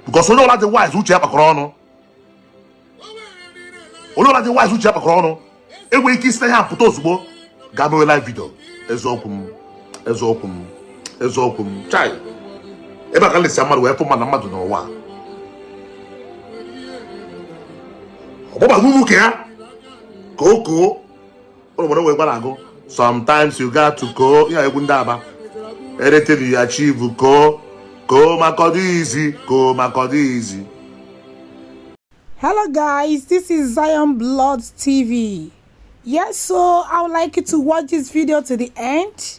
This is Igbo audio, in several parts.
because onye ọla dị wise uche ya kpakọrọ ọnụ onye ọla dị wise uche ya kpakọrọ ọnụ enweghị ike isi na ya pụta ozugbo gaa mewe live video eziokwu m eziokwu m chai ebe a ka nlesi mmadụ wee fụ mmadụ mmadụ n'ụwa ọgbọgbaghị ụmụ ka ya ka o koo ụlọ nwere nwekwara agụ sometimes you got to koo ihe egwu ndị Aba anything you achieve koo koo maka ọ dị easy koo maka ọ dị easy Hello guys, this is Zion Blood TV. Yes, so I would like you to watch this video to the end.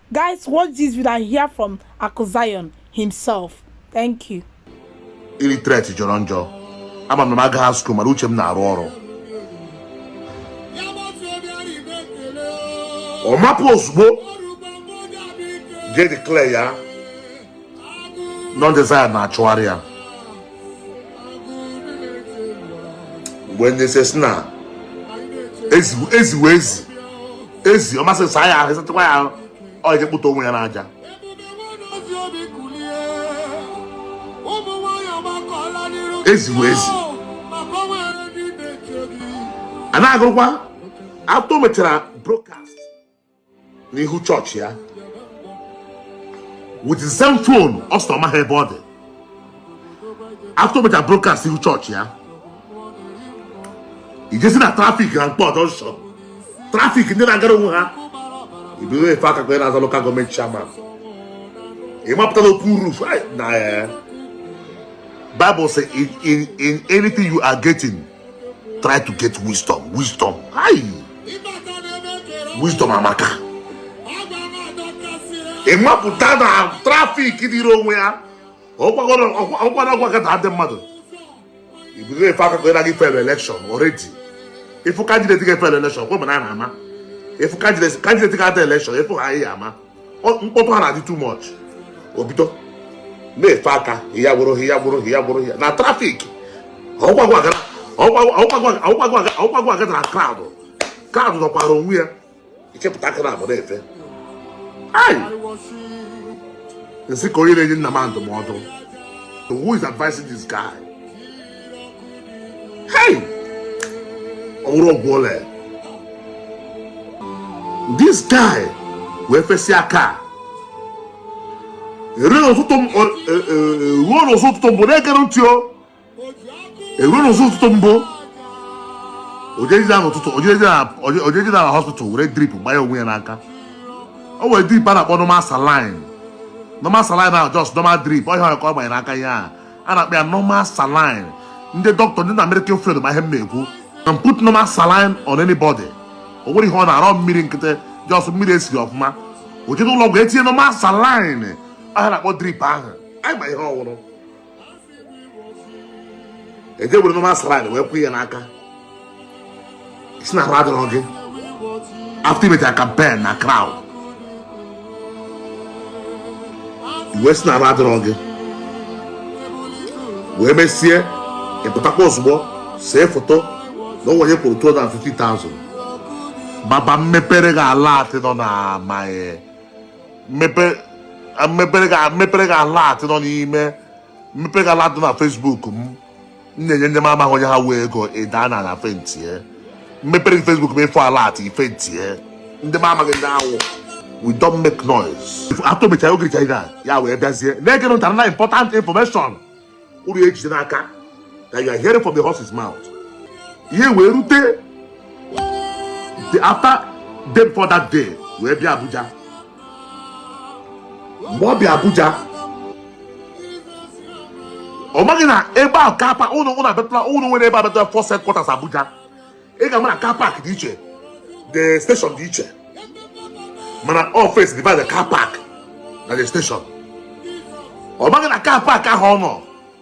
Guys, watch this video and hear from Akuzion himself. Thank you. Illiterate jọrọ njọ. Ama m na m agaghị school mana uche m na-arụ ọrụ. Ọ mapụ ozugbo je declare ya na ndị Zion na-achụgharị ya mgbe nyese sị na ezi ezi wụ ezi ezi ọ masị gị saa ya ahụ ị satụkwa ya ahụ ọ eje kpụtọ onwe ya n'aja ezi wụ ezi a na-agụrụkwa after o mechara broadcast n'ihu chọọchị ya with the same phone ọ sị na ọ maghị ebe ọ dị after o mechara broadcast n'ihu chọọchị ya i jezie na traffic na Nkpor junction traffic ndị na-agara onwe ha i bido efe aka ka onye na-azọ local government chairman ị mapụta n'open roof na Bible sị in in in anything you are getting try to get wisdom wisdom ayi wisdom amaka ị mapụta na traffic dịrị onwe ya ọkwara ọgwakọta ndị mmadụ i bido efe aka gị naghị fail election already ị fụ candidate ga-afail election kwe mana a na-ama ị fụ candidate ga-ada election ị fụ ha ị ya-ama mkpọtụ ha na-adị too much o bido na-efe aka ya gwụrụ ya gwụrụ ya gwụrụ ya na traffic ọ wụghị gị gathara crowd crowd nọkwara onwe ya ị chịpụta aka naabọ na-efe m sị ka onye na-enye nna m ndụmọdụ who is advising this guy Hey! Ọ wụrụ ọgwụ o lee. This guy wee fesịa aka. Eruo n'ụzọ ụtụtụ gboo na-egere ntị o. Eruo n'ụzọ ụtụtụ gboo. O jezie na hospital were drip gbanye onwe ya n'aka. O were drip a na-akpọ normal saline. Normal saline ahụ just normal drip ọ ya ka ọ gbanye n'aka ya a. a na-akpọ ya normal saline ndị dọkịta ndị nọ na medical field ma ihe m na-ekwu and put normal saline on anybody o nwerọ ihe ọ na-arụ mmiri nkịtị just mmiri e siri ọfụma o jere ụlọ ọgwụ e tinye normal saline ihe a a na-akpọ drip ahụ anyị ma ihe ọ wụ e je were normal saline wee kwụ ya n'aka sị na ahụ adịrọ gị after i mechara campaign na crowd i wee sị na ahụ adịrọ gị wee mesie ị pụtakwa ozugbo see foto na o nwe onye kwụrụ 250,000 baba m mepere gị alert nọ na my m mepere gị alert nọ n'ime m mepere gị alert nọ na Facebook m m na-enye ndị m amaghị onye ha wụ ego ị daa n'ana faintie m mepere gị Facebook m ị fụ alert ị faintie ndị m amaghị ndị ha wụ we don't make noise after mechara oge richa ga ya wee bịazie na-ege ntị na important information unu ejide n'aka that you are hearing from the horse's mouth ihe wee rute the after day before that day wee bịa Abuja mgbe ọ bịa Abuja ọ maghị na ebe ahụ car park unu unu abịatụla unu nwere ebe abịatụla Force headquarters Abuja ị ga-ama na car park dị iche the station dị iche mana ọ fence divide the car park na the station ọ maghị na car park ahụ ọ nọ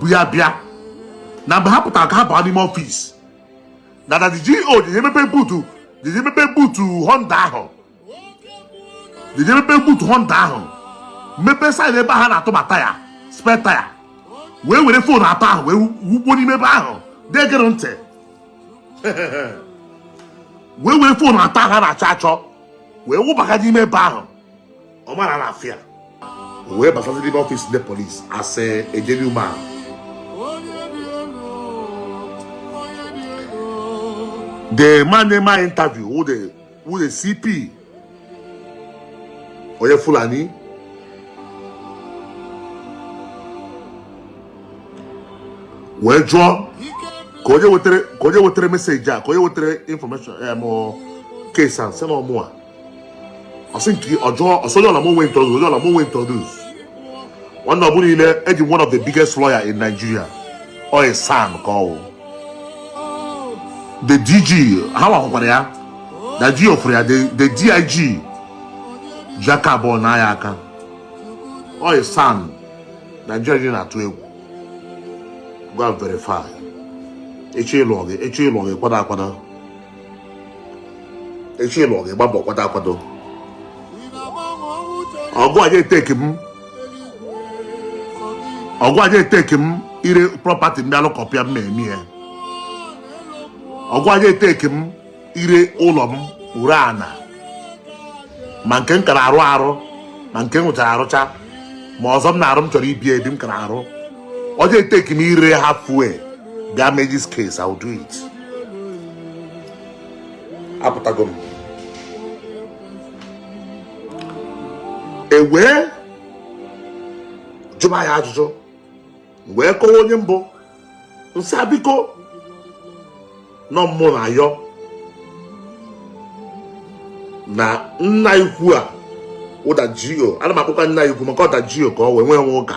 bụ ya bịa na mgbe ha pụtara ka ha baa n'ime office na the GO jee mepe boot jee mepe boot Honda ahụ jee mepe boot Honda ahụ mepe side ebe ha na-atụba taya spare taya wee were phone atọ ahụ wee wụba n'ime ebe ahụ degere ntị wee were phone atọ ahụ a na-achọ achọ wee wụbaga n'ime ebe ahụ ọ mara na afịa wee basazi n'ime office ndị polis asị gentleman the man na-eme m interview wụ the wụ the CP onye Fulani wee jụọ kee onye wetara message a kee onye wetara information em case a m sị na ọ mụwa ọ sị nke ọ jụọ ọ sị jụọ lawyer m o wee introduce ọ jụọ lawyer m o wee introduce nwanne ọbụla ile eji one of the biggest lawyer in Nigeria ọ a SAN ka ọ wụ the DG ha nwakwara ya na GO fụrụ ya the the DIG ji aka abụọ naa ya aka ọ a SAN Nigeria dị na-atụ egwu go and verify echi ịlụ gị echi ịlụ gị kwado akwado echi luo gị gbaa mbọ kwado akwado ọgụ a ja-etake m ọgụ a ja-etake m ire property ndị alụkọpịa m na-eme ya ọgụ a ja-etake m ire ụlọ m ire ana ma nke m kara arụ arụ ma nke m rụchara arụcha ma ọzọ m na-arụ m chọrọ ibi ebi m kara arụ ọ ja-etake m ire ha afụ wee gaa mee this case I will do it apụtago m e wee jụba ya ajụjụ wee kọwa onye m bụ m sị biko na ọ mụ na-ayọ na nna ukwu a ọda GO ana m akpọkwa nna ukwu maka ọda GO ka ọ wee nwee nwe ụka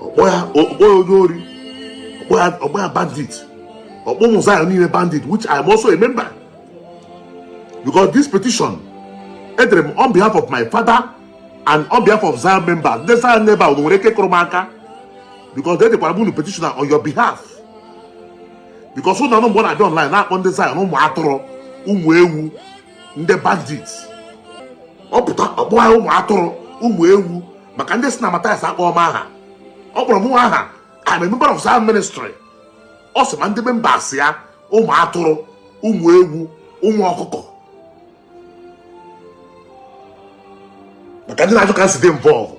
ọ kpọ ya onye ori ọ kpọ ya bandit ọ kpọ ụmụ Zion niile bandit which I am also a member because this petition edere m on behalf of my father and on behalf of Zion members ndị Zion member unu nwere ike kụrụ m aka because edekwara m unu petition on your behalf because ụnụ anụ mgbe ọ na-abịa online na-akpọ ndị Zion ụmụ atụrụ ụmụ ewu ndị bandits ọ pụta ọ kpọ ya ụmụ atụrụ ụmụ ewu maka ndị sị na Mathias akpọọ m aha ọ kpọrọ mụnwa aha I'm a member of Zion ministry ọ sị ma ndị members ya ụmụ atụrụ ụmụ ewu ụmụ ọkụkọ maka ndị na-ajụ ka m si dị involved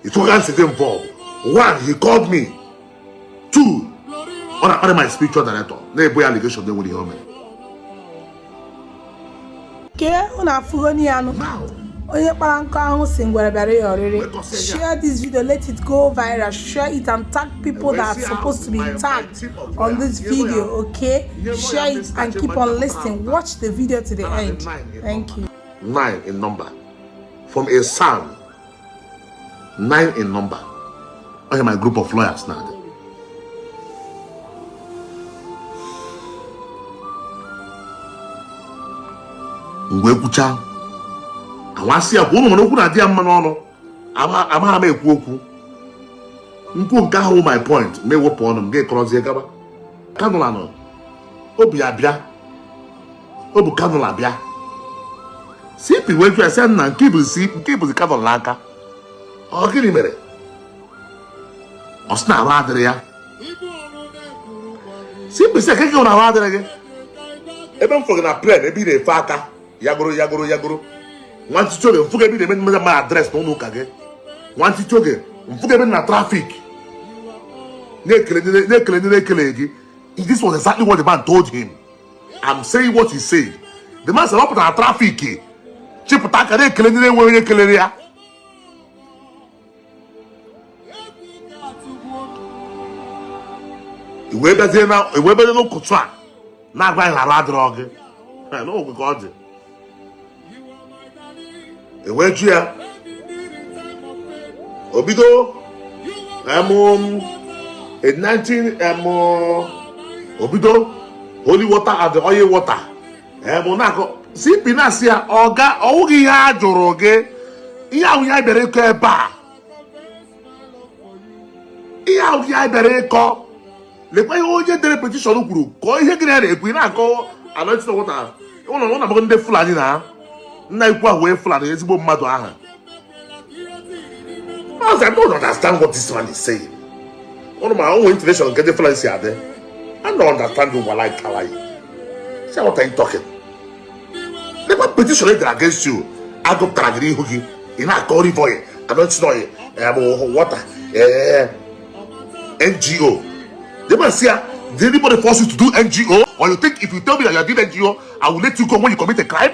ị fụ ka m si dị involved one he called me two ọ na-akparị my spiritual director na-ebo ya allegation na-enwerọ ihe o mere kee unu afụgo n'ihe anụ onye kpara nkụ ahụhụ sị ngwere bịara ya ọrịrị share this video let it go viral share it and tag people that are supposed to be tagged on this video okay share it and keep on listening watch the video to the end thank you nine in number from a SAN nine in number onye my group of lawyers na-adị mgbe ekwucha a wa sị ya kwuo ụnụ ma na okwu na-adị ya mma n'ọnụ amaghị m ekwu okwu m kwuo nke ahụ wụ my point m ewepụ ọnụ m gekọrọzie gaba cannula nụ o bu ya bịa o bu cannula bịa CP wee jụọ sị nna nke i buzi nke i buzi cannula n'aka ọ gịnị mere ọ sị na arụ adịrọ ya CP sị ka gị na arụ adịrọ gị ebe m fụrụ gị na plane ebe ị na-efe aka ya gụrụ ya gụrụ ya gụrụ nwantịntị oge m fụ gị ebe ị na-eme mmega mmadụ address na ụlọ ụka gị nwantịntị oge m fụ gị ebe na traffic na-ekele ndị na-ekele gị this was exactly what the man told him I'm saying what he said. The man said, ọ pụtara trafiki chịpụta aka na-ekele ndị na-enweghị onye kelere ya iwe bezie n'ụkụtụ a na-agwa anyị na arụ adịrọ gị n'ogwe ka ọ dị e wee jụọ ya o bido um, in 19 um, o bido holy water and oil water bụ um, na-akọ cp na-asị ya ọga ọ wụghị ihe a jụrụ gị ihe a wụ ihe a bịara ịkọ ebe a ihe a wụ ihe a bịara ịkọ lekwa ihe onye dere petition kwuru kọọ ihe gị na ya na-ekwu ị na-akọ anointed water ụlọ ụlọ abụghị ndị fulani na nna ikwu ahụ wee fulani ezigbo mmadụ ahụ Because I don't understand what this man is saying. One of my own international get the fulani out there. I don't understand you while I tell you. See what I'm talking. lekwa petition e dere against you a gụpụtara gị n'ihu gị ị na-akọ olive oil anointing oil bụ water ngo the man sị ya did anybody force you to do ngo or you think if you tell me that you are doing ngo i will let you go when you commit a crime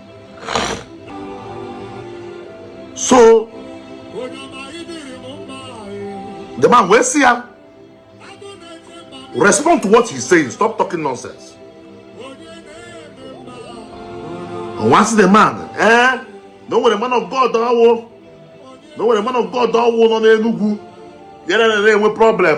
so the man wee sị ya respond to what he's saying stop talking nonsense once the man eh na o nwere man of god ọ wụ na o nwere man of god ọ wụ nọ n'enugwu ya na-enwe problem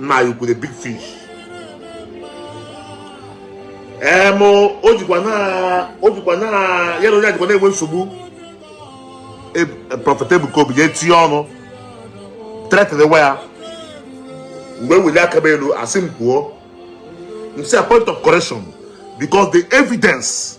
nna anyị ukwu the big fish em o jikwa na o jikwa na ya na onye a jikwa na-enwe nsogbu e, e, prophet Ebuka Obi ga-etinye ọnụ threatenwa ya mgbe weli aka m elu a sị m kwuo m sị a point of correction because the evidence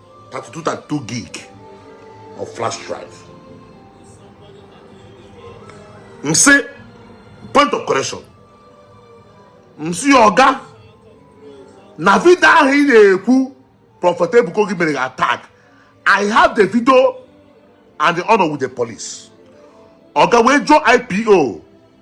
32 32 gig of flash drive m sị point of correction m sị ọga na video ahụ ị na-ekwu prophet ebuka obi mere attack i have the video and ọ nọ with the police ọga wee jụọ ipo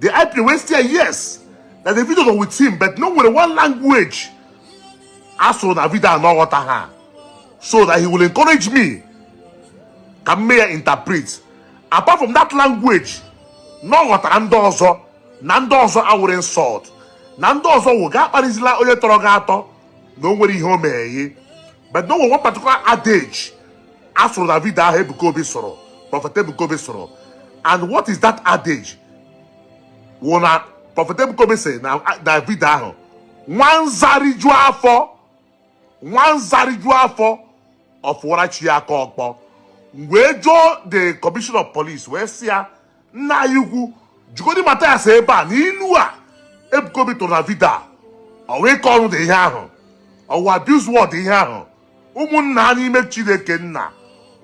the IPO wee sị ya yes na the video go with him but na o nwere one language a sụrụ na video a na ọ ghọtaha so that he will encourage me ka m mee ya interpret apart from that language na ọ ghọtara ndị ọzọ na ndị ọzọ awụrụ insult na ndị ọzọ wụ gị akparịzila onye tọrọ gị atọ na o nwere ihe o meghe but no one particular adage a sụrụ na vidio ahụ Ebuka Obi sụrụ Prophet Ebuka Obi sụrụ and what is that adage wụ na Prophet Ebuka Obi sị na na vidio ahụ nwa nza riju afọ nwa nza riju afọ ọ fụwara chi ya aka ọkpọ wee jụọ the commissioner of police wee sị ya nna anyị ukwu jụgodi Mathias ebe a na ilu a Ebuka Obi tụrụ na vidio a ọ wụ ịkọ ọnụ dị ihe ahụ ọ wụ abuse word ihe ahụ ụmụnna ha n'ime Chineke nna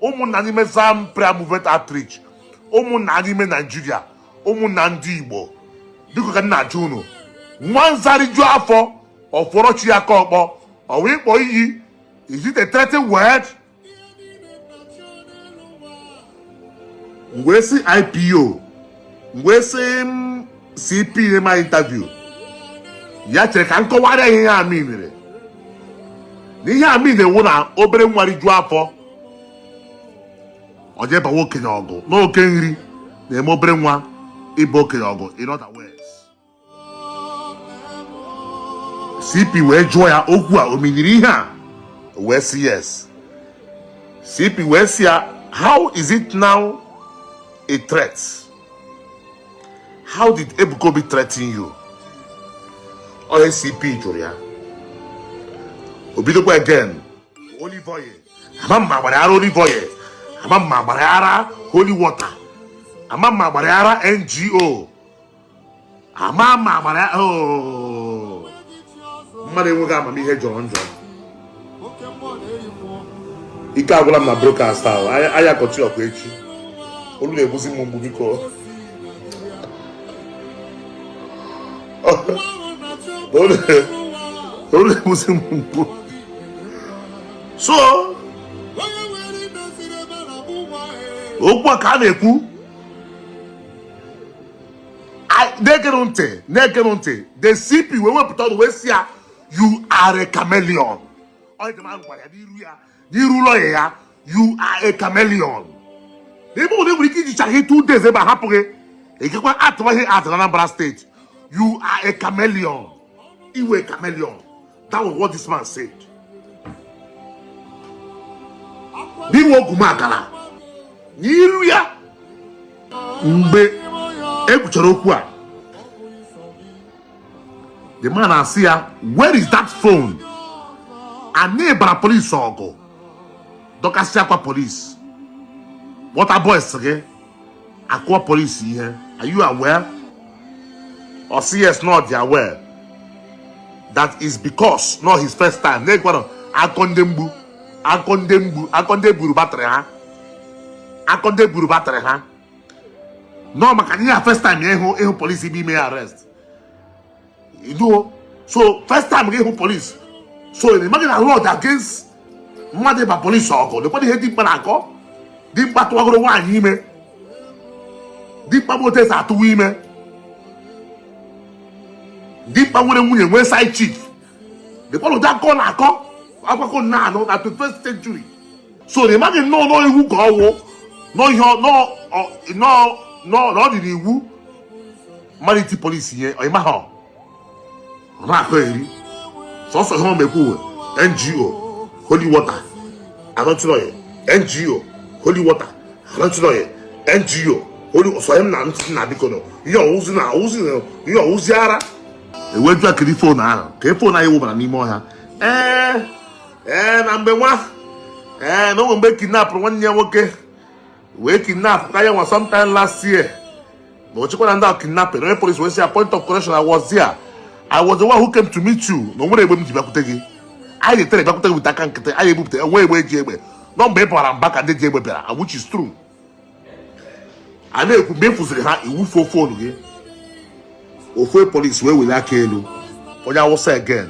ụmụnna n'ime Zion Prayer Movement Outreach ụmụnna ha n'ime Naijiria ụmụnna ndị Igbo biko ka m na-ajụ unu nwa nza riju afọ ọ fụọrọ chi ya aka ọkpọ ọ wụ ịkpọ iyi is it a threatening word wee sị IPO m wee sị mm, CP ma interview ya chere ka m kọwara ihe a minere na ihe a mine wụ na obere nwa rijuo afọ ọ jee bawa okenye ọgụ na oke nri na-eme obere nwa ịba okenye ọgụ in other words cp wee jụọ ya okwu a o minere ihe a wee sị yes cp wee sị ya how is it now a threat how did ebuka obi threaten you ọ ihe cp jụrụ ya o bidokwa again olive oil ama mma gbara ara olive oil ama mma gbara ara holy water ama mma gbara ara ngo ama ama agbara ya oh. mmadụ enweghị amamihe jọrọ njọ ike agwụla m na brokast ahụ anyị akọchie okwu echi olu na-egbuzi m mgbu biko olu na-egbuzi m mgbu so okwu a ka a na-ekwu na-egere ntị na-egere ntị the CP wee wepụta ọnụ wee sị ya you are a chameleon ọ ihe the man gwara ya n'iru ya n'iru lọya ya you are a chameleon n'ebe ụlọ nwere ike ijichi gị two days ebe a hapụ gị ịgakwa atụwa gị atụ na Anambra steeti you are a chameleon ị wụ a chameleon That was what this man said. Na ị wụ ogwumagala, n'iru ya mgbe e kwuchara okwu a the man asị ya where is that phone anyị bara polisi ọgụ dọkasịa akwa polisi wọta boys gị a kụọ polisi ihe are you aware ọ sị yes na ọ dị aware that is because na ọ his first time na-ekwara akọ ndị mgbu akọ ndị mgbu akọ ndị buru batrị ha akọ ndị buru batrị ha na ọ makana first time ịhụ ịhụ polisi bịa ime ya arrest iduo so first time gị ịhụ polisi so ị maghị na law dị against mmadụ ịba polisi ọgụ lekwana ihe dimkpa na-akọ dimkpa tụwagoro nwaanyị ime dimkpa bụ otu e si atụwa ime dimkpa nwere nwunye nwee side chick lekwana ụdị akọ na-akọ akwakọ na a nọ na 21st century so ị maghị na ọ na ọ iwu ka ọ wụ na ọ ihe na ọ na ọ na ọ na ọ dị n'iwu mmadụ iti polisi ihe ọ ị maghị ọ na-akọgheri sọsọ ihe ọ ma ekwu wụ ngo holy water anointing oil ngo holy water anointing oil ngo holy ọsọ ihe m na ntị na biko na ọ ihe ọ wụzi na ọ wụzi na ihe ọ wụzi ara eweju akiri fon ahụ ka e fon anyị wụbara n'ime ọhịa ee ee na mgbe nwa ee na o nwe mgbe a kidnapụrụ nwanne ya nwoke wee kidnapkwa ya nwa sometime last year na o chekwara ndị kidnapping onye polisi wee sị ya point of correction I was there I was the one who came to meet you na o nwerọ egbe m ji bịakwute gị anyị na-etere bịakwute gị with aka nkịtị anyị ebupụta enwe egbe eji egbe na ọ mgbe ị bara mba ka ndị ji egbe bịara and which is true a na-ekwu mgbe ị fụziri ha ị wufuo fonu gị ofu polisi wee welie aka elu onye awụsa again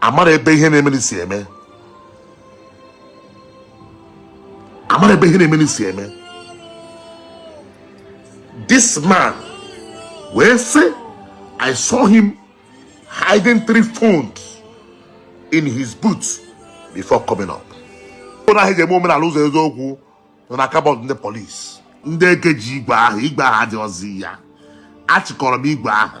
a mara ebe ihe na-emeri si eme a mara ebe ihe na-emeri si eme this man wee sị i saw him hiding three phones in his boots before coming up ụlọ ahụ e ji eme omenala ụzọ eziokwu na ọ na car boot ndị polisi ndị ekeji igwe ahụ igwe ahụ adịrọzi ya achịkọrọ m igwe ahụ